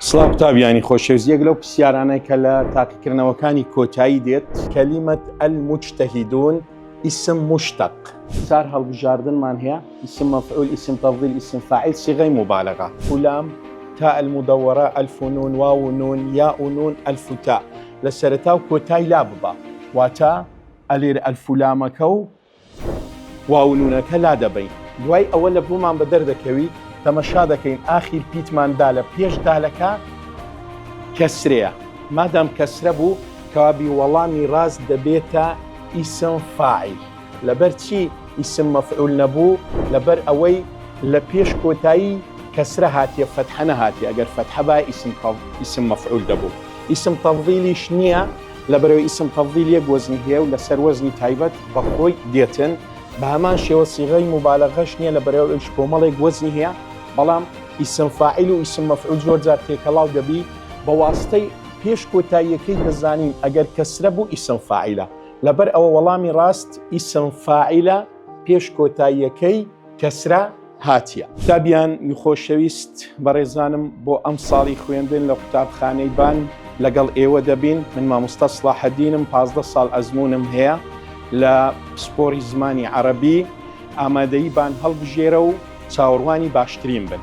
سڵاو قوتابیانی خۆشەویست یەک لەو پرسیارانەی کە لە تاقیکردنەوەکانی کۆتایی دێت کەلیمەت المجتهدون اسم مشتق چار هەڵبژاردنمان هەیە اسم مفعول اسم تفضیل اسم فاعل صیغەی مبالغە الام تاء المدورە الف و نون واو و نون یاء و نون الف و تاء لە سەرەتا و کۆتای لا ببا واتە ئەلێر الف و لامەکە و واونونەکە لادەبەین دوای ئەوە لە بۆمان بەدەر دەکەوی تەمەشا دەکەین ئاخیر پیتمان دالە پێش دالەکە کەسرەیە مادام کەسرە بوو کەوابی وەڵامی ڕاست دەبێتە ئیسم فاعیل لەبەر چی ئیسم مەفعول نەبوو لەبەر ئەوەی لە پێش کۆتایی کەسرە هاتیە فەتحە نەهاتیە ئەگەر فەتحە با ئیسم مەفعول دەبوو ئیسم تەڤیلیش نییە لەبەرەوەی ئیسم تەفضیل یەک وەزنی هەیە و لەسەر وەزنی تایبەت بەخۆی دێتن، بەهەمان شێوە صیغەی موبالەغەش نیە لەبەرەوەی ئەویش کۆمەڵێک وەزنی هەیە، بەڵام ئیسم فاعیل و ئیسم مەفعول زۆرجار تێکەڵاو دەبی بەواسطەی پێش کۆتاییەکەی دەزانین ئەگەر کەسرە بوو ئیسم فاعیلە لەبەر ئەوە وەڵامی ڕاست ئیسم فاعیلە پێش کۆتاییەکەی. کەسرا هاتیە. قوتابیان یخۆشەویست بەڕێزانم بۆ ئەم ساڵی خوێندن لە قوتابخانەی بان لەگەڵ ئێوە دەبین من مامۆستا سڵاحەدینم پازدە ساڵ ئەزمونم هەیە لە پسپۆری زمانی عەڕەبی ئامادەی بان هەڵبژێرە و چاوەڕوانی باشترین بن.